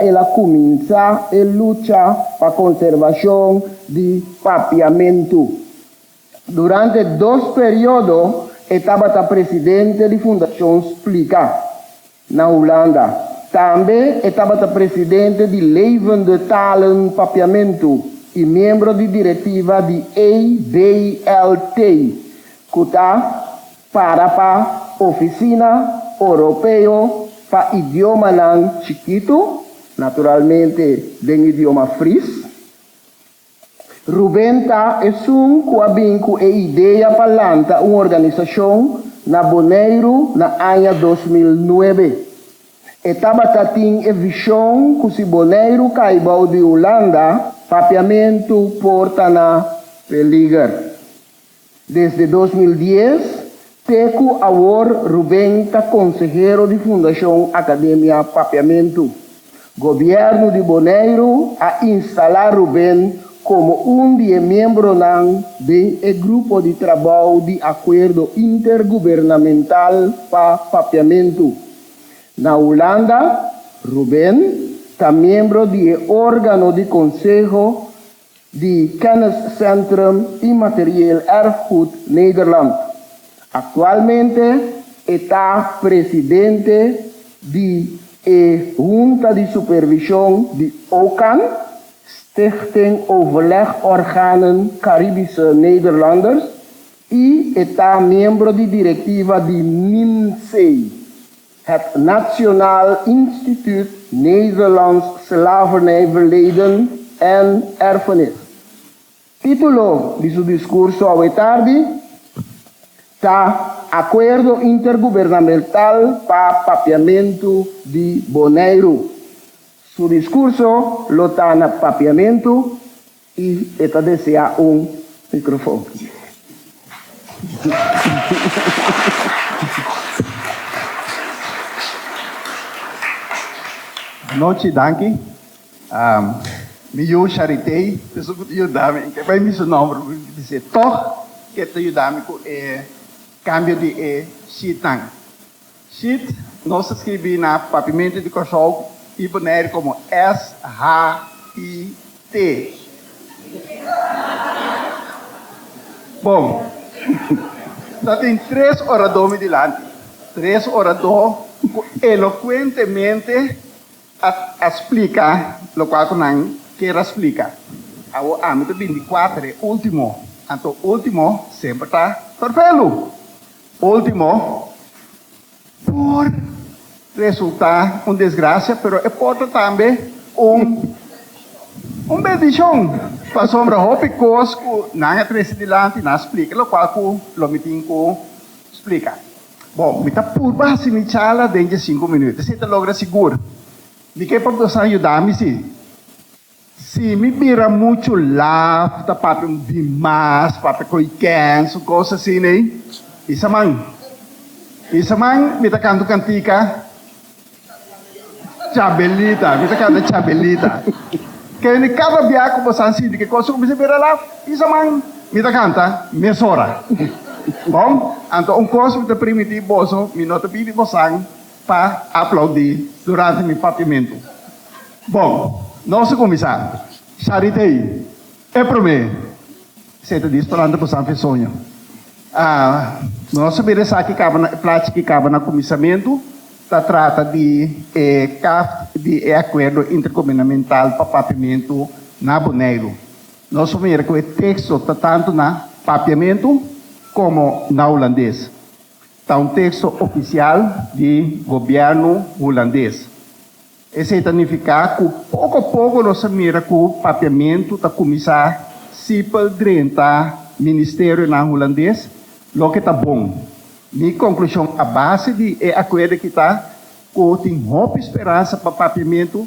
El a cuminsa e lucha pa conservacion di Papiamentu. Durante dos periodo e tabata presidente di Fundacion Splica na Hulanda. Tambe e tabata presidente di Levende Talen Papiamentu y miembro di directiva di ABLT, cu ta Para pa Oficina Oropeo pa Idiomanan Chikitu, naturalmente den idioma Fries. Ruben ta esun ku a bin ku e idea pa lanta un organisashon na Boneiru na aña dos mil nuebe. E tabata tin e vishon ku si Boneiru kai bou di Hulanda, papiamentu por ta na peliger. Desde dos mil dies te ku awor Rubén ta konsehero di Fundashon Akademia Papiamentu. Gobièrnu di Boneiru a instalá Rubén komo un di e miembronan den e grupo di trabou di Akuerdo Intergubernamental pa Papiamentu. Na Hulanda, Rubén ta miembro di e órgano di konseho di Kenniscentrum Immaterieel Erfgoed Nederland. Actualmente e ta presidente di e Hunta di Supervision di OCAN, Stichting Overleg Organen Caribische Nederlanders, y e ta miembro di directiva di NIMSE, Het Nationaal Instituut Nederlands Slavernijverleden en Erfenis, título di su discurso awe tardi ta Acuerdo Intergubernamental pa Papiamento di Boneiru. Su discurso lo ta na Papiamento. Y e ta desea un microfon. Nochi, danki. Mi yu Charitey, peso cu ta yuda mi, ke bay mi su nomber porque mi di se tog ke ta yuda mi cu e cambio di e sheet nan. Shit, nos ta scribi na Papimentu di Kòrsou i Boneiru komo SHIT. Bon, ta tin tres oradó mi dilanti, tres oradó ku elokuentemente a a splika lokual ku nan kier a splika. Awor ami ta bini di kuater, e último, anto último semper ta perfelu. Ultimo, por resulta un desgracia, pero e por ta tambe un un bendicion, pasobra hopi cos cu nan a trece dilanti nan a splica locual cu lo mi tin cu splica. Bon, mi ta purba haci mi charla den dje cinco minuut, esey ta logra sigur. Mi ke por bosnan yuda mi si. Si mi bira muchu laf ta papia un di mas, papia koiken, su kos asina ei, pisa man. Pisa man mi ta kanta un kantika, Chabelita, mi ta kanta Chabelita. Kende kada bia ku bo sa sinti ke kos ku bisa bira laf, pisa man, mi ta kanta mesora. Bon, anto un kos mi ta primiti boso, mi no ta pidi bosan pa aplaudi durante mi papiamentu. Bon, nos a kuminsá. Sharita ei e promé. Seta di sperando ku Sanfi soña. Ah, nos a mira esaki kaba na, e plachi ki kaba na kuminsamentu, ta trata di e kaft di e akuerdo intergubernamental pa papiamentu na Boneiru. Nos a mira ku e teksto ta tantu na papiamentu komo na hulandes. Ta un teksto ofisial di gobièrnu hulandes. Esei ta nifiká ku poko poko nos a mira ku Papiamentu ta kuminsá sipel drenta ministerionan hulandes, loke ta bon. Mi konklushon a base di e akuerdo aki ta ku tin hopi speransa pa Papiamentu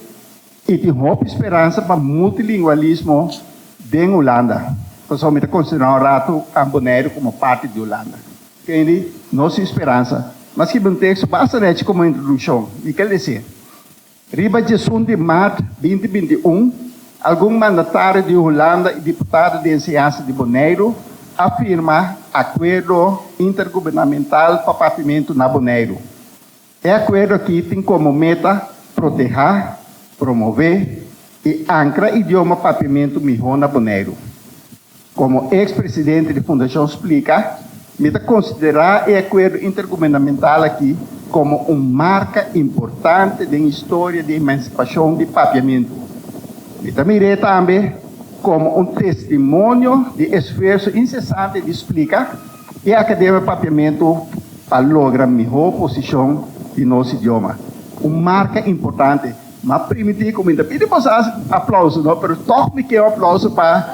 i tin hopi speransa pa multilingualismo den Hulanda, pasobra mi ta konsiderá un ratu Kamp Boneiru komo parti di Hulanda. Kei di nos speransa. Mas kiba un teksto basta nechi komo introdukshon, i kel esei. Riba djesun di maart binti binti i un, algun mandatario di Hulanda i diputado di enseñansa di Boneiru a firma Akuerdo Intergubernamental pa Partimentu na Boneiru. E akuerdo aki tin komo meta protehá, promové i ankra idioma papiamentu mihó na Boneiru. Komo eks presidente di Fundashon splika, mi ta konsiderá e akuerdo intergubernamental aki komo un marka importante den historia di emansipashon di papiamentu. Mi ta mir'é tambe komo un testimonio di esfuerso insesante di splika, E Akademia di Papiamentu a logra mihó posishon di nos idioma, un marka importante. M'a primintí ku mi ta pidi boso hasi aplauso no, pero tòg mi keu aplauso pa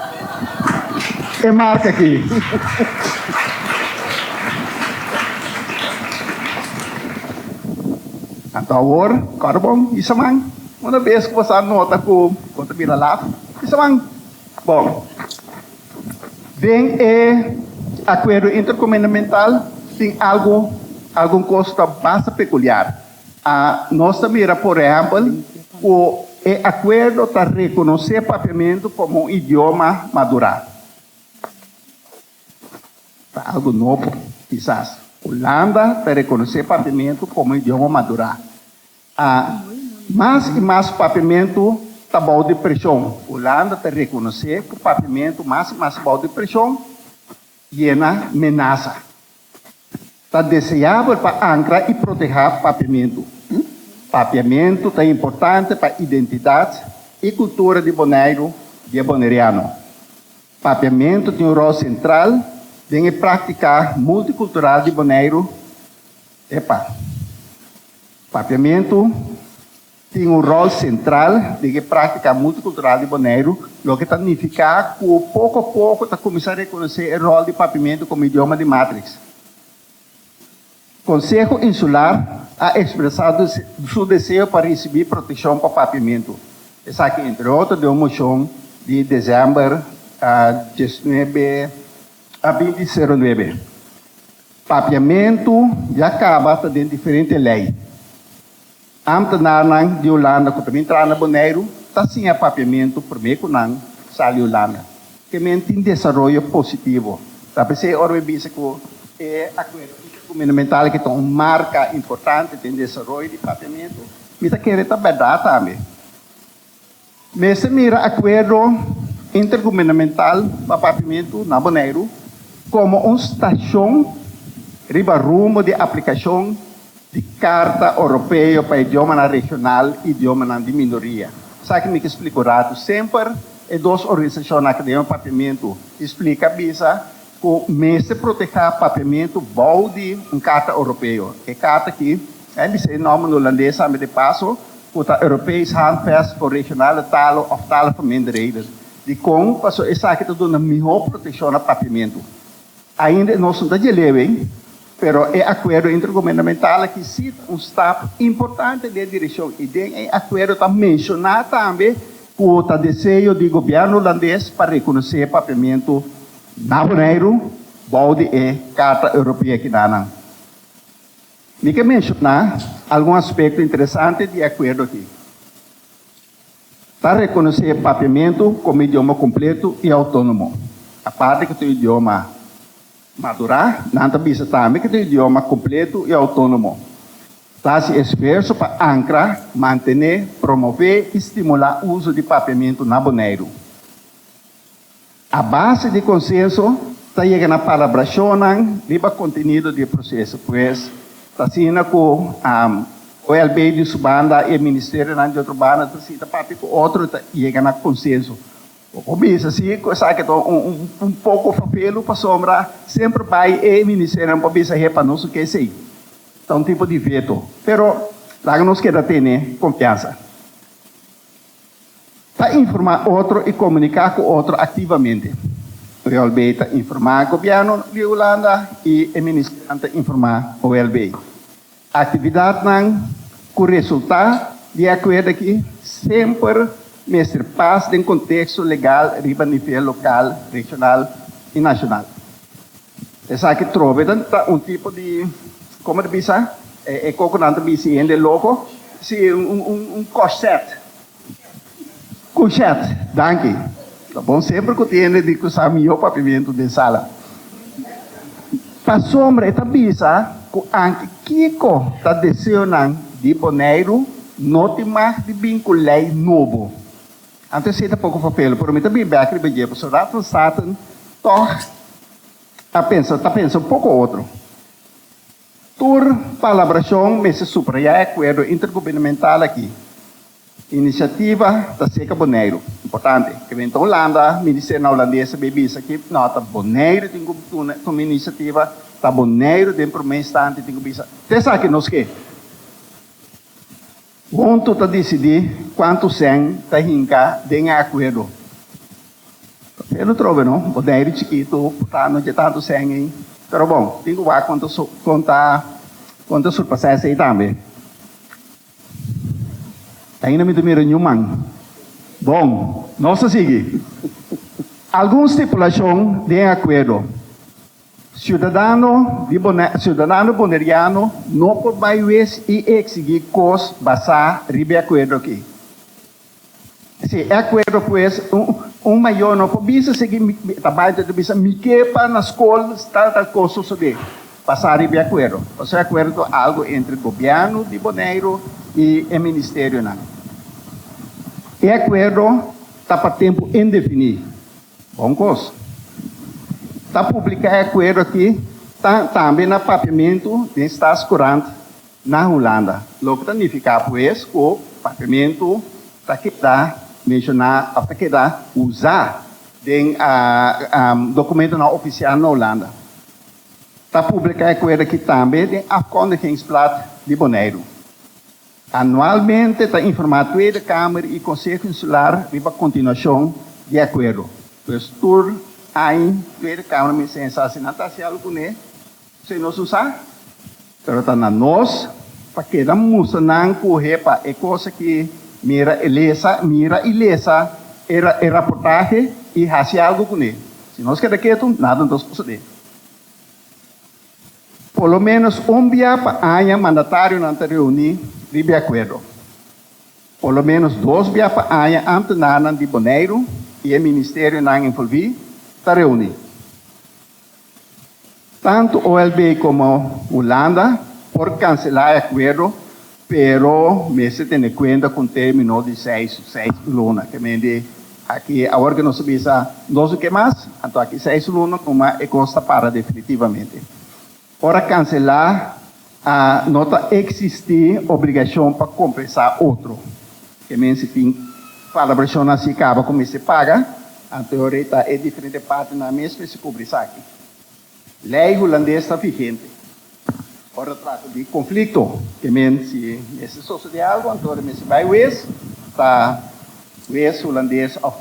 e marka akí. Anto awor, kòrda bon, Isaman, una bes ku boso a nota ku bo ta mira laf? Isaman, bon. Den e Akuerdo Intergubernamental tin algu, algun kos ta basta pekuliar. Nos ta mira por ehèmpel ku e akuerdo ta rekonosé Papiamentu komo un idioma madurá. Ta algu nobo kisas. Hulanda ta rekonosé Papiamentu komo un idioma madurá. A Mas i mas papiamentu ta bou di preshon. Hulanda ta rekonosé ku papiamentu mas i mas bou di preshon i e na menasa. Ta deseabel pa ankra i protehá papiamentu. Papiamentu ta importante pa identidat i kultura di Boneiru i e boneriano. Papiamentu tin un ròl sentral den e praktiká multikultural di Boneiru. Epa. Papiamentu tin un ròl sentral den e práktika multikultural di Boneiru, loke ta nifiká ku poko a poko ta kuminsá rekonosé e ròl di papiamentu komo idioma di matriks. Konseho Insular a ekspresá su deseo pa risibí protekshon pa papiamentu, esaki entre otro den un moshon di desèmber dies nuebe a binti seru nuebe. Papiamentu ya kaba ta den diferente lei. Amtenarnan di Hulanda ku ta bin traha na Boneiru ta siña papiamentu promé ku nan sali Hulanda. Ke men tin desaroyo positivo. Ta p'esei ora mi bisa ku e Akuerdo Intergubernamental ke ta un marka importante den desaroyo di papiamentu, mi ta kere ta bèrdat tambe. Mester mira Akuerdo Intergubernamental pa Pavimentu na Boneiru komo un stashon riba rumbo di aplikashon di Karta Oropeo pa Idiomanan Regional i Idiomanan di Minoria. Esaki mi ke splika un ratu. Semper e dos organisashon Akademia pa Pavimentu i splika bisa ku mester protehá pavimentu bou di un Karta Oropeo. E karta aki. Nan bisa e nòmber Hulandes ambe de paso, ku ta Europees Handvest for Regionale Talen òf Talen for Minderheden. Dikon? Paso esaki ta duna mihó protekshon na papiamentu. Ainda e nos no ta djel'é awei, pero e akuerdo intergubernamental aki sí ta un stap importante den e direkshon i den e akuerdo ta menshoná tambe ku ta deseo di gobièrnu Hulandes pa rekonosé e papiamentu na Boneiru bou di e Karta Europee Kidanan. Mi ke menshoná algun aspekto interesante di e akuerdo aki. Ta rekonosé Papiamentu komo idioma kompletu i outónomo. Aparte ku ta un idioma madurá, nan ta bisa tambe ku ta un idioma kompletu i outónomo. Ta hasi esfuerso pa ankra, mantené, promové i stimulá uso di Papiamentu na Boneiru. A base di konsenso ta yega na palabrashonnan riba kontenido di e proseso. Pues, ta asina ku OLB di su banda i e ministerionan di otro banda ta sinta papia ku otro i ta yega na konsenso. Bo por bisa si ku esaki ta un poko fafelu pasobra semper bai e ministerionan por bisa, He, pa nos su ke esei. Ta un tipo di veto. Pero laga nos keda tene konfiansa. Ta informá otro i komuniká ku otro aktivamente. OLB ta informá Gobièrnu di Hulanda i e ministerionan ta informá OLB. Aktividatnan ku resultá di e akuerdo aki semper mester pas den konteksto legal riba nivel lokal, regional i nashonal. Esaki trobe ta ta un tipo di, como ta bisa, e e coco nan ta bishi hende loco, si un un un un corset, couchette, danki. Ta bon semper cu tin hende di cu sa miho papiamento den sala. Pasobra e ta bisa cu anki kico ta deseonan di Boneiru no tin mag di bin cu ley nobo. Antes esei ta poko fapelo, pero mi ta bini bek riba dje pasobra rat van Staten tòg a pensa, ta pensa un poko otro. Tur palabrashon mester subrayá e akuerdo intergubernamental akí, Inisiativa ta serka Boneiru, importante, e bini ta Hulanda, Ministerio na Hulandes ta bai bisa ki nò ta Boneiru tin ku tuna tuma inisiativa, ta Boneiru den promé instanti tin ku bisa, ta esaki nos ke. Huntu ta disidí kuantu sèn ta hinka den e akuerdo. Papia lo trobe no, bo dei di chikitu purtá no dje tantu sèn ei. Pero bon, tin ku wak kon ta kon ta surpasá esei tambe. Ainda mi ta mira ñu man. Bon, nos a sigui. Algun stipulashon den e akuerdo Ciudadano di Bonaire, ciudadano boneriano no por bay wes y exigí cos basá riba e acuerdo aqui. Si e acuerdo pues, un mayor no por bisa sigui ta bay ta bisa mi ke pa na scol tal tal cos sosode basá riba e acuerdo. Pasobra e acuerdo ta algo entre gobierno di Boneiru y e ministerionan. E acuerdo ta pa tempo indefiní. Bon kos. Ta publiká e akuerdo akí tambe na papiamentu den Staatskoerant na Hulanda, loke ta nifiká pues ku papiamentu ta keda menshoná òf ta keda usá den dokumentunan ofisial na Hulanda. Ta publiká e akuerdo akí tambe den Afkondigingsblad di Boneiru. Anualmente ta informá Tweede Kamer i Konseho Insular riba kontinuashon di e akuerdo. Pues tur aña Tweede Kamer mester hensá si nan ta hasi algu kuné so i nos usá. Pero ta na nos pa keda mustra nan ku hepa e kos aki mira i lesa, mira i lesa e raportahe i hasi algu kuné. Si nos keda ketu, nada no ta sosodé. Por lo ménos un bia pa aña mandatarionan ta reuní riba e akuerdo. Por lo ménos dos bia pa aña ámtenarnan di Boneiru i e ministerionan envolví ta reuní. Tantu OLB komo Hulanda por kanselá e akuerdo Pero mester tene kuenta ku un termino di seis luna. Ke mende aki awor ke nos a bisa nos no ke mas, anto aki seis luna kuma e kos ta para definitivamente. Ora kanselá no ta eksistí obligashon pa kompensá otro. Ke men si tin palabrashonnan asi kaba ku mester paga, anto e rei ta e diferente partenan mes mester kubri esaki. Lei Hulandes ta vigente ora trata di conflicto, te men si mester sosode algo anto e mester bay wes ta wes Hulandes of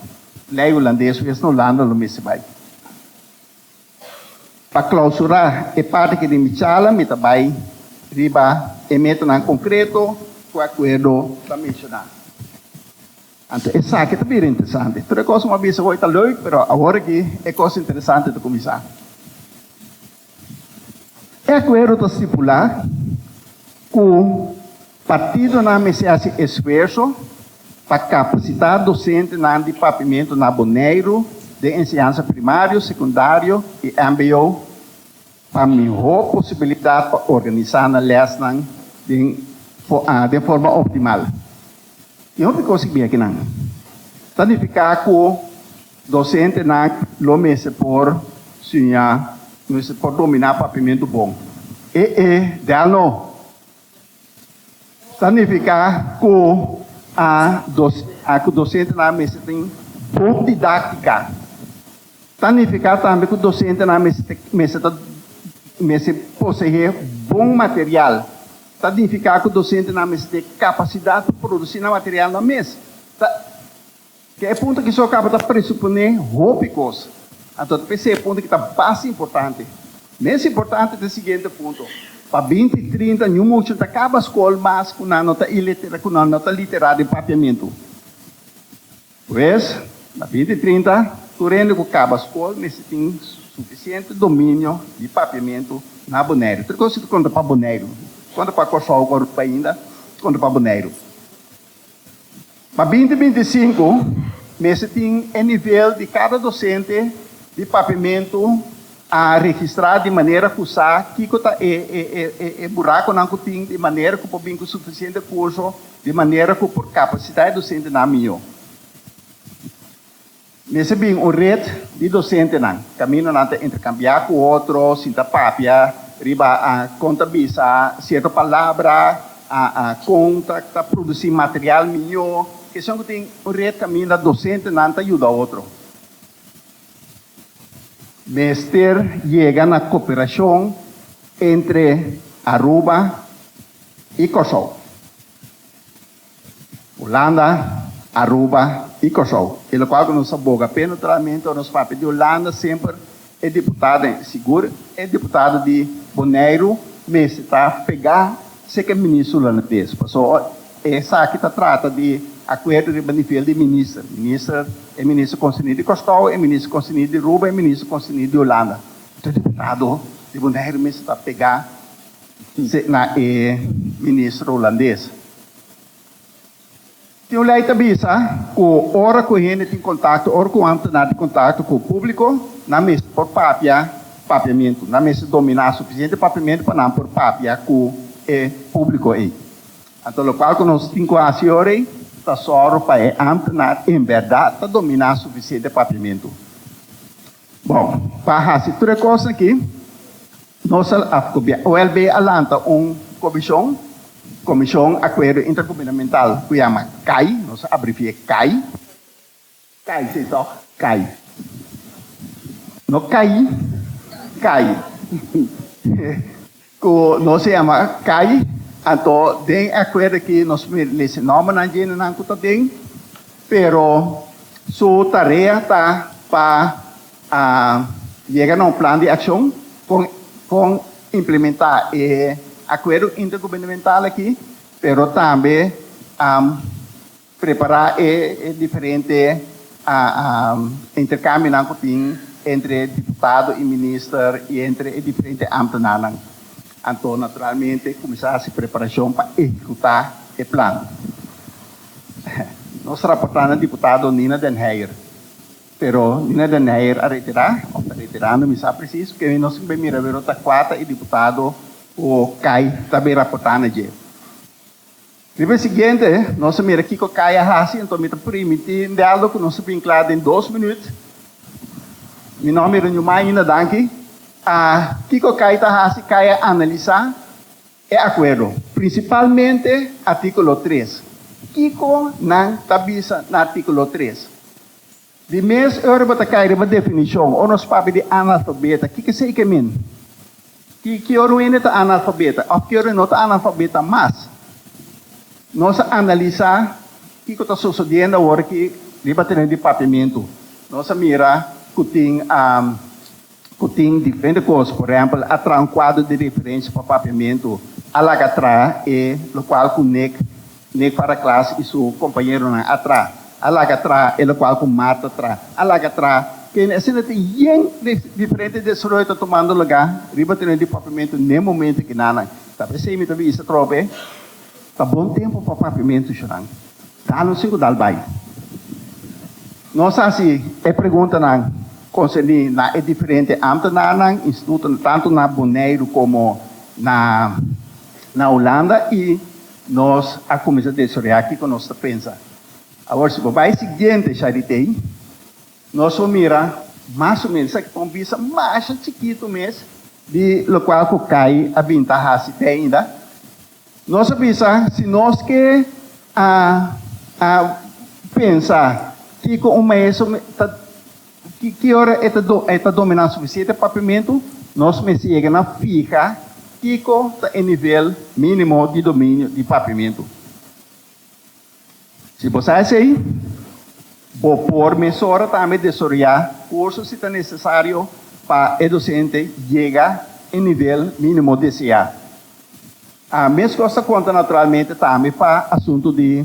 Lei Hulandes wes na Hulanda lo mester bay. Pa clausura e parti aki di mi charla mi ta bay riba e metanan concreto cu e acuerdo ta menciona. Anto esaki ta bira interesante. Tur e kos ku a bisa hoy ta leuk, pero awor aki e kos interesante ta kuminsá. E akuerdo ta stipulá ku partidonan mester hasi esfuerso pa kapasitá dosentenan di Papimentu na Boneiru den enseñansa primario, sekundario i mbo Pa mihó posibilidat pa organisá nan lèsnan den den forma optimal. E un rikos i beki nan. Ta nifiká ku dosentenan lo mester por siña, lo mester por dominá Papiamentu Bon. E e, del no! Ta nifiká ku a ku dosentenan a mester tin bon didáktika. Ta nifiká tambe ku dosentenan a mester ta mester ta mester poseé bon material. Ta nifiká ku dosentenan a mester ten kapasidat pa produsí nan materialnan mes. Ta. Te e punto aki so caba ta presupone hopi cos. Anto ta p'esei e punto ki ta bas importante. Mes importante ta e siguiente punto, Pa binti trinta ñu muchanan ta caba scol mas cu nan no ta ilitera, cu nan no ta litera den papiamentu. Pues, na binti trinta, tur hende cu caba scol mester tin suficiente dominio di papiamentu na Boneiru. Tur e cos aki ta conta pa Boneiru. Conta pa Corsou, Aruba ainda, conta pa Boneiru. Pa binti binti sinku, mester tin e nivel di kada dosente di papiamentu a registrá di manera ku sa kiko ta e e burakonan ku tin di manera ku por bin ku sufisiente kurso di manera ku por kapasitá e dosentenan mihó. Mester bin un ret di dosentenan. Kaminda nan ta interkambiá ku otro, sinta papia riba kon ta bisa sierto palabra, kon ta produsí material mihó. Keshon ku tin un ret kaminda dosentenan ta yuda otro. Mester yega na koperashon entre Aruba i Kòrsou. Hulanda, Aruba y Kòrsou. Y lokual ku nos ta boga p'e neutralmente, nos papia di Hulanda semper e diputadonan. Y sigur e diputado di Boneiru mester ta pegá serka e minister hulandes, pasobra ora esaki ta trata di akuerdo riba nivel di minister, minister, e minister konserní di Kòrsou, e minister konserní di Aruba, e minister konserní di Hulanda. Enton e diputado di Boneiru mester ta pegá. Sey na e ministro Holandés. Tin un ley ta bisa cu ora cu hende tin contacto, ora cu nan ta na di contacto cu publico, nan mester por papia papiamento. Nan mester domina suficiente papiamento pa nan por papia cu e publico ey. Anto locual cu nos tin cu haci ora ey ta zorgo pa e ambtenaar en berdad ta domina suficiente papiamento. Bon, pa hasi tur e kosnan akí, nos a wèlb'é a lanta un komishon, Komishon Akuerdo Intergubernamental, ku yama kai, nos a abrevié kai, kai sí tòg? kai, no kai, kai. Ku nos a yama kai, anto den e akuerdo aki nos mester nòmbernan djenenan ku ta den, pero su tarea ta pa yega na un plan di akshon kon kon implementá e akuerdo intergubernamental aki, pero tambe. Prepará e diferente interkambionan ku tin entre diputado i minister i entre e diferente ámtenarnan. Anto naturalmente kuminsá hasi preparashon pa ehekutá e plan. Nos ta raportá na diputado Nina den Heijer, pero Nina den Heijer a retirá òf ta retirando, mi sa presis, pasobra nos tin mira awer ota kual ta e diputado ku kai ta bin raportá na dje. Di mes siguiente nos a mira kico Kai a haci, enton mi ta primiti Neldo cu nos ta bin cla den dos minuut. Mi no a mira niun man ainda, danki. A kico Kai ta haci, Kai a analisa e acuerdo, principalmente articulo tres. Kico nan ta bisa na articulo tres? Di mes ora bo ta kai riba definishon, o nos papia di analfabeta, kiko esei ke min? Ki ki ora un hende ta analfabeta, of ki ora no ta analfabeta mas? Nos a analisá kiko ta sosodiendo awor aki riba teren di papiamentu. Nos a mira ku tin. ku tin diferente kos, por ehèmpel a traha un kuadro di referensia pa papiamentu, a laga traha e lokual ku Nick, Nick para klas i su kompañeronan a traha, a laga traha e lokual ku Marta traha, a laga traha kende. Asina ta yen di diferente desaroyo ta tumando lugá riba teren di papiamentu n'e momento e kinanan. Tabes ei mi ta bisa tromp'e ta bon tempu pa papiamentu, Jonan. Ta anunci cu ta al bay. Nos a haci e preguntanan concerni na e diferente ambtenaarnan, institutonan, tanto na Boneiru como na Hulanda y nos a cuminsa desorea kico nos ta pensa. Awor si bo bay siguiente Charité, nos lo mira mas o menos esaki ta un bisa masha chikito mes di locual cu Kai a bin ta haci te ainda. Nos a bisa si nos ke a a pensa kiko un maestro ta ki ora e ta e ta dominá sufisiente papimentu, nos mester yega na fiha kiko ta e nivel mínimo di dominio di papimentu. Si bo sa esei, bo por mesora tambe desoroyá kurso si ta nesesario pa e dosente yega e nivel mínimo deseá. A Meskos ta konta naturalmente tambe pa asuntu di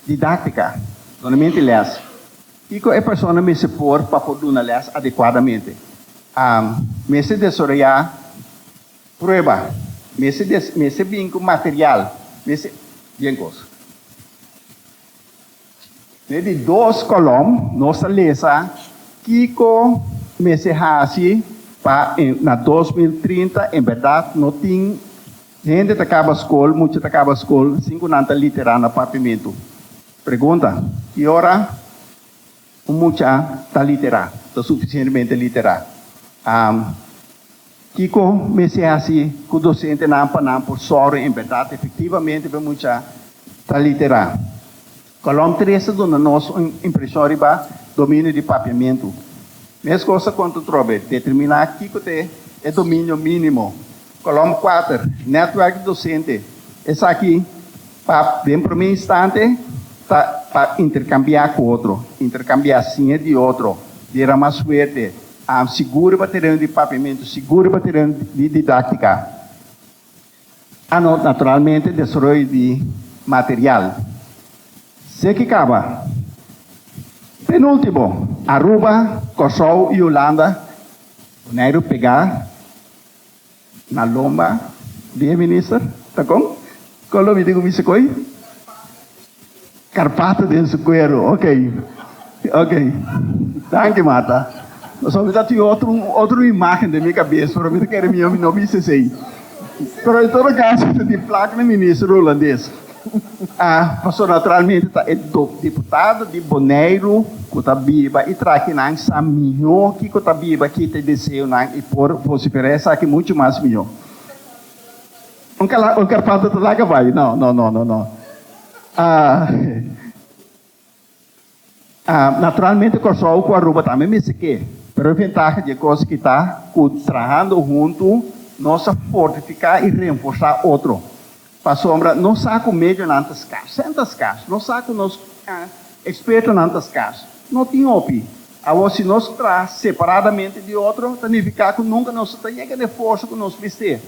didáktika, donamenti lès. Kiko e persona mester por pa por duna lès adekuadamente? A Mester desoroyá. Prueba, mester des, mester bin cu material, mester, bien cos. Mester di dos colom nos ta lesa kico mester haci pa en, na dos mil trinta en berdad no tin hende ta caba scol, mucha ta caba scol sin cu nan ta litera na papimentu. Pregunta, ki ora? Un mucha ta literá, ta sufisientemente literá. Kiko mester hasi ku dosentenan pa nan por sòru en bèrdat efektivamente bo mucha ta literá? Kòlòm tres ta duna nos un impreshon riba dominio di papiamentu. Meskos ta konta trobe determiná kiko ta e dominio mínimo Kolom kuater, Netwerk di Dosente. Esaki, pa den promé instante, ta pa interkambiá ku otro, interkambiá sin e di otro, deramá suerte, am sigur riba tereno di papiamentu, sigur riba tereno di didáktika. Ano, naturalmente, desaroyo di material. Se ke kaba. Penúltimo, Aruba, Kòrsou i Hulanda, Boneiru pegá Na lomba di e minister ta con? Con lo mi tin cu mi scoi? Carpato den su cuero. Ok. Ok. Danki, Marta. Pasobra mi ta tin otro, un otro imagen den mi cabes, pero mi ta kere mijo mi no bisa esey. Pero en todo caso, mi ta tin plak na minister Holandes. Pastor naturalmente ta e dop diputado di Boneiru ku ta biba i trakinan sa mihó kiko ta biba ki ta e deseonan i por vosiferá esaki muchu mas mihó. Un kala un karpanta ta laga bai? No, no, no, no, no. Naturalmente Kòrsou ku Aruba tambe mester ke, pero e ventaha dje kos ki ta ku trahando huntu nos a fortifiká i renforsá otro. Pasobra nos sa ku medionan ta skars, sèn ta skars, nos sa ku nos ekspertonan ta skars. No tin hopi. Awor si nos traha separadamente di otro ta nifiká ku nunka nos no ta yega den forso ku nos mester.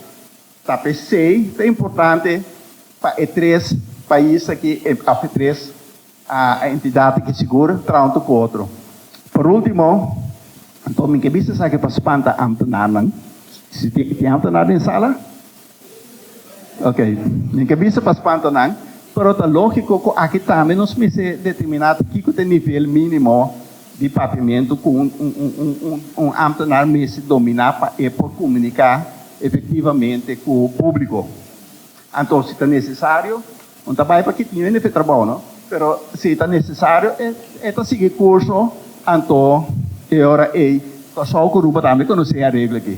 Ta p'esei ta importante pa e tres pais aki, of e tres entidad aki sigur traha un tur cu otro. Por ultimo, anto mi ke bisa esaki pa spanta ambtenarnan, si tin ambtenar den sala? Ok, mi ke bisa pa spanta nan, pero ta logico cu aki tambe nos mester determina ta kico ta e nivel minimo di papimentu ku un ámtenar mester dominá pa e por komuniká efektivamente ku públiko. Anto si ta nesesario, no ta bai pa ki tin rende pa e trabou no, pero si ta nesesario e ta sigui kurso anto e ora ei. Kòrsou ku Aruba tambe konosí e areglo aki.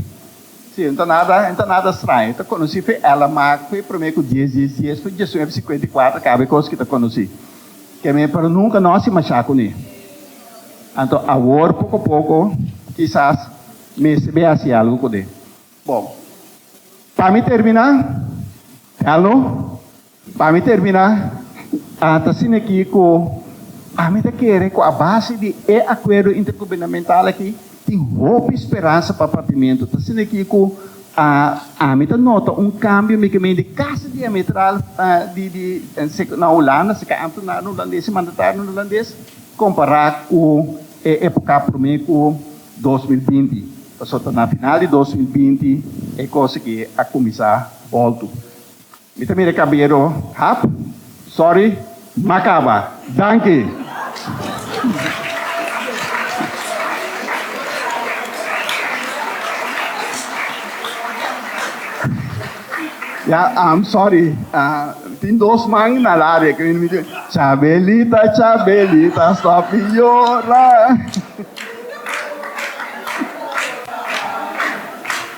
Sí, no ta nada, no ta nada straño. E ta konosí fe ela, ma fe promé ku dies, dies, dies, fe diesunef, sikuenta i kuater kaba e kos ku e ta konosí. Kemé pero nunka no hasi mashá kuné. Anto awor poko poko kisas mester be hasi algu kuné. Bon, pa mi terminá, real no, pa mi terminá a ta asina akí ku ami ta kere ku a base di e akuerdo intergubernamental akí, Tin hopi speransa pa Papimentu ta asina aki ku ami ta nota un kambio mikemende kasi diametral di di na Hulanda si ka anto nan era hulandes si mandatario nan era hulandes kompará ku e epoka promé ku dos mil binti pasobra ta na final di dos mil binti e kos aki a kuminsá boltu. Mi ta mira e kabero hap. Sorry, m'a kaba. Danki! Ya, am sorry. Tin dos man na radio ku mi di, Chabelita, Chabelita, stop di yora.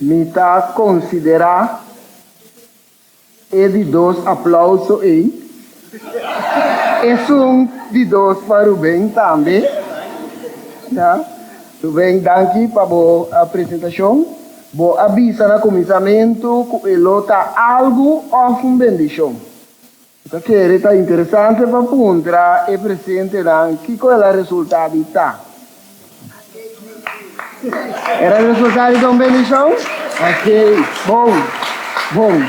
Mi ta konsiderá e di dos aplauso ei. Esun di dos pa Rubén tambe. Rubén, danki pa bo presentashon. Bo a bisa na kuminsamentu ku e lo ta algu òf un bendishon. Ta kere ta interesante pa puntra e presentenan kiko el a resulta di ta. El a resulta di ta un bendishon? Ok, bon, bon.